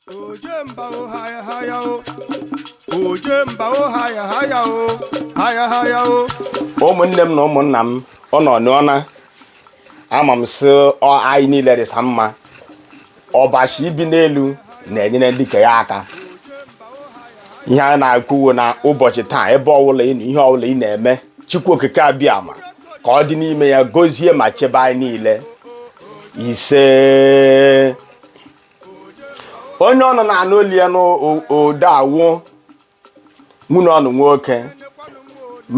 ojemba o haya haya o ojemba o haya haya o haya haya o ụmụnne m na ụmụnna m ọnụ anọọna ama m sị anyị niile rịsa mma Ọbasị bi n'elu na-enyere ndị ke ya aka ihe anyị na-ekwu wụ na ụbọchị taa ebe ọbụla ị nọ, ihe ọbụla ị na-eme chukwu okike abịama ka ọ dị n'ime ya gozie ma chebe anyị niile isee onye ọnụ na-anụ olu ya n'ode awụ nwanne ọnụ nwoke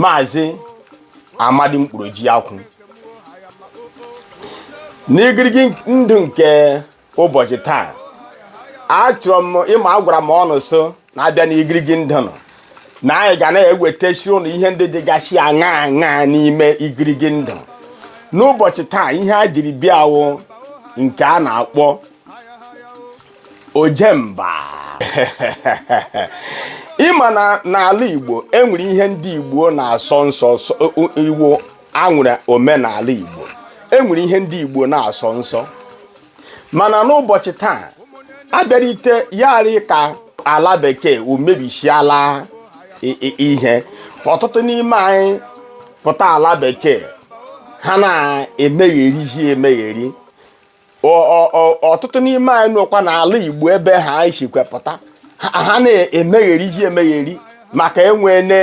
maazị amadi mkpụrụ ji akwụ n'igirigi ndụ nke ụbọchị taa achọrọ m ị ma agwara m ọnụ sị na abịa na igirigi ndụ na anyị ga na-ewetasiri ụnụ ihe ndị dịgasị aṅaa aṅaa n'ime igirigi ndụ n'ụbọchị taa ihe a jiri bịa wụ nke a na-akpọ ojemba ị ma na n'ala igbo e nwere ihe ndị igbo na-asọ nsọ iwu e nwere omenala igbo e nwere ihe ndị igbo na-asọ nsọ mana n'ụbọchị taa a bịarute ya arị ka ala bekee o mebisiala i- i- ihe ọtụtụ n'ime anyị pụta ala bekee ha na-emegherizi emegheri ọtụtụ n'ime anyị nọkwa n'ala Igbo ebe ha anyị sikwa pụta ha na-emegherizi emegheri maka e nweene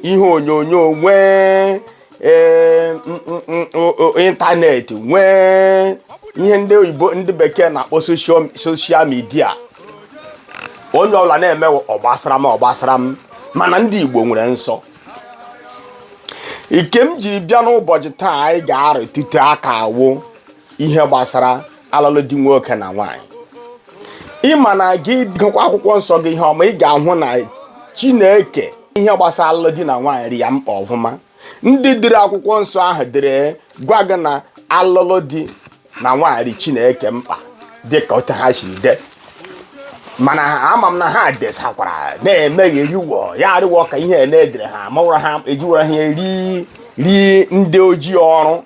ihe onyonyo nwee e, internet nwee ihe ndị oyibo ndị bekee na-akpọ social media onye ọbụla na-eme ọ gbasara m ọ gbasara m mana ndị Igbo nwere nsọ nke m jiri bịa n'ụbọchị taa anyị ga-arụtụtụ aka wụ ihe gbasara alụlụ di nwoke na nwaanyị ị ma na gị gụkwa akwụkwọ nsọ gị ihe ọma ị ga-ahụ na chineke ihe gbasara alụlụ di na nwaanyị rị ya mkpa ọfụma ndị dere akwụkwọ nsọ ahụ dere gwa gị na alụlụ di na nwaanyị rị chineke mkpa dịka otu ha siri dee mana ama m na ha desakwara na-emeghị eriwo ya arịwa ka ihe na-edere ha mawara ha ejiwara ha eri ri ndị ojii ọrụ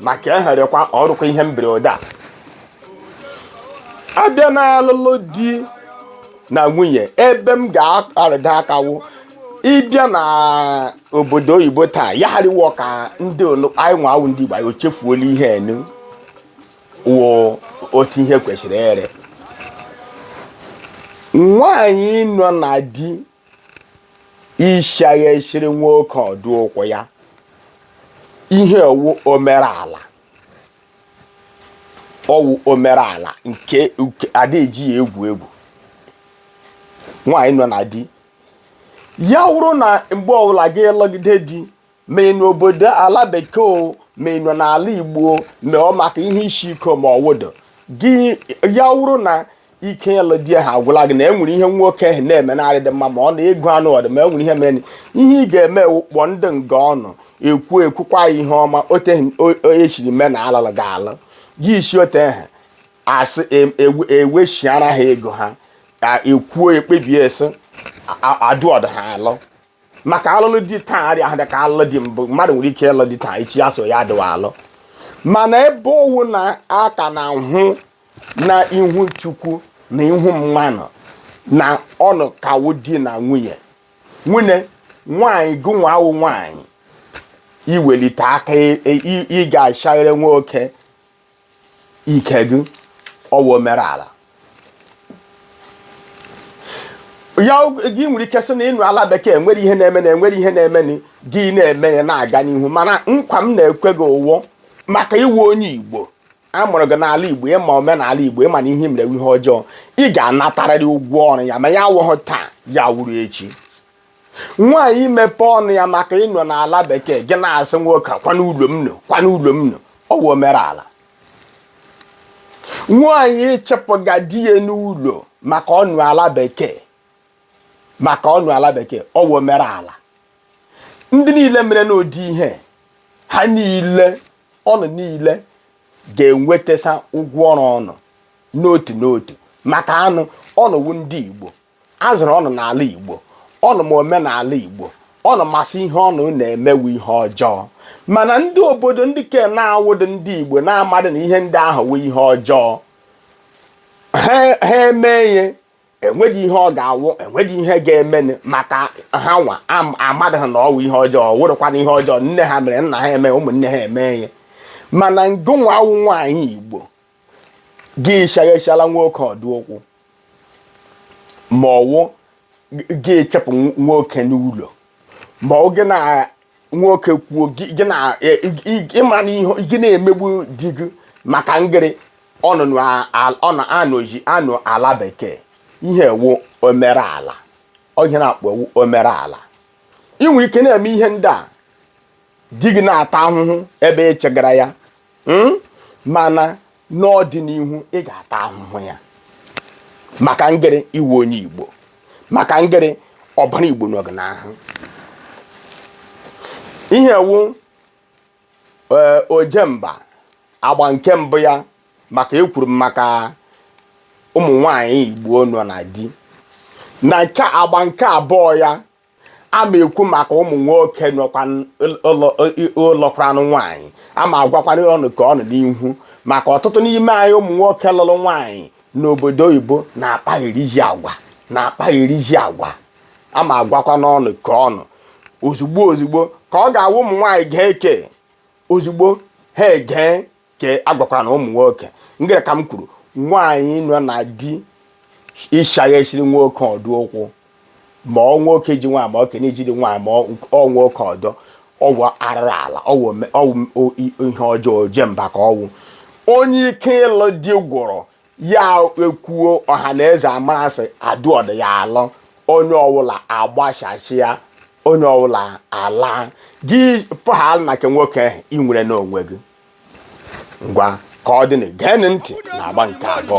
maka eherekwa ọrụkwa ihe mberede a abịa n'alụlụ di na nwunye ebe m ga-arụtụ aka wụ ị bịa na obodo oyibo taa ya arịwa ka ndị olu- anyị nwa wụ ndị igbo anyị echefuola ihe enu wụ otu ihe kwesịrị ere nwaanyị nọ na di ịshaghasiri nwoke ọdụ okwu ya ihe ọ wụ omerala ọ wụ omerala nke a da eji ya egwu egwu nwaanyị nọ na di ya wụrụ na mgbe ọbụla gị lụgide di ma ị nọ obodo ala bekee o ma ị nọ n'ala igbo o ma ọ maka ihe isi ike ma ọwụdo gị ya wụrụ na ike ịlụ di ha agwụla gị na e nwere ihe nwoke ahụ na-eme na-arịdị mma ma ọ na ego anọdị ma e nwere ihe mere ihe ị ga-eme wụ kpọọ ndị nga ọnụ ekwuo ekwukwa ya ihe ọma ote e shiri mee na alụlụ ga-alụ gị isi ote ha asị e- ewe- eweshiara ha ego ha ka ekwuo ekpebie sị a- adụ ọdụ ha alụ maka alụlụ di taa arịhụ dị ka alụlụ di mbụ mmadụ nwere ike ịlụ di taa echi ya so ya adịwa alụ mana ebe ọ wụ na a ka na-ahụ na ihu chukwu na ihu mmadụ na ọnụ ka wụ di na nwunye nwunye nwanyị gịnwa wụ nwanyị iwelite aka ị ga-ashaghere nwoke ike gị ọ wụ omere ala ya gị nwere ike sị na ị nọ ala bekee e nwere ihe na-emenụ e nwere ihe na-emenụ gị na-eme ya na-aga n'ihu mana nkwa m na-ekwe gị wụ maka ị wụ onye igbo a mụrụ gị n'ala igbo ị ma omenala igbo ị ma na ihe mere ihe ọjọọ ị ga-anatarịrị ụgwọ ọrụ ya ma ya awụghị taa ya wụrụ echi nwaanyị imepe ọnụ ya maka ị nọ n'ala bekee gị na-asị nwoke kwaa n'ụlọ m nọ kwaa n'ụlọ m nọ ọ wụ omerala nwaanyị ịchịpụga di ya n'ụlọ maka ọ nọ ala bekee maka ọ nọ ala bekee ọ wụ omerala ndị niile mere n'ụdị ihe ha niile ọnụ niile ga-enwetasa ụgwọ ọrụ ọnụ n'otu n'otu maka na ọnụ wụ ndị Igbo a zụrụ ọnụ n'ala Igbo ọnụ ma omenala Igbo ọnụ ma sị ihe ọnụ na-eme wụ ihe ọjọọ mana ndị obodo ndị ke na-awụdị ndị Igbo na-amadị na ihe ndị ahụ wụ ihe ọjọọ ha mee ya enweghị ihe ọ ga-awụ enweghị ihe ga-emenụ maka hanwa amadị na ọ wụ ihe ọjọọ wụrụkwana ihe ọjọọ nne ha mere nna ha eme ụmụnne ha eme ihe mana gịnwa wụ nwaanyị Igbo gị shaghachala nwoke ọdụ okwu ma ọ wụ gị ịchịpụ nwoke n'ụlọ ma ọ gị na nwoke kwuo gị na e, ị ma na gị na-emegbu di gị maka ngịrị ọnụnọ ị nọ ala bekee ihe a wụ omereala ọ ihe a na-akpọ wụ omereala ị nwere ike na-eme ihe ndị a di gị na-ata ahụhụ ebe ị chịgara ya mm? mana n'ọdịnihu ị ga-ata ahụhụ ya maka ngịrị ị wụ onye igbo maka ngịrị ọbara igbo nọ gị n'ahụ ihe wụ ee ojemba agba nke mbụ ya maka ekwuru m maka ụmụ nwanyị igbo nọ na di n'agba nke abụọ ya a ma ekwu maka ụmụ nwoke lụkwaranụ nwaanyị a ma agwakwanụ ụnụ ke ụnụ n'ihu maka ọtụtụ n'ime anyị ụmụ nwoke lụrụ nwaanyị n'obodo oyibo na-akpa erizi agwa na-akpa erizi agwa a ma agwakwanụ ụnụ ke ụnụ ozugbo ozugbo ka ọ ga-awụ ụmụ nwaanyị ga-eke ozugbo ha egee ka a gwakwaranụ ụmụ nwoke ngịrị ka m kwuru nwaanyị nọ na di ịshaghasịrị nwoke ọdọ ụkwụ ma ọ nwoke ji nwaanyị ma ọ kene ijiri nwaanyị ma ọ nwoke ọdọ ọ wụ arụrụ ala ọ wụ ihe ọjọọ ojemba ka ọ wụ onye ike ịlụ di gwụrụ ya ekwuo ọha na eze amarasị adụọdụ ya alụ onye ọwụla agbashashịa onye ọwụla ala gị pụghal na nke nwoke ahụ ị nwere n'onwe gị ngwa ka ọ dịnụ geenụ ntị na agba nke abụọ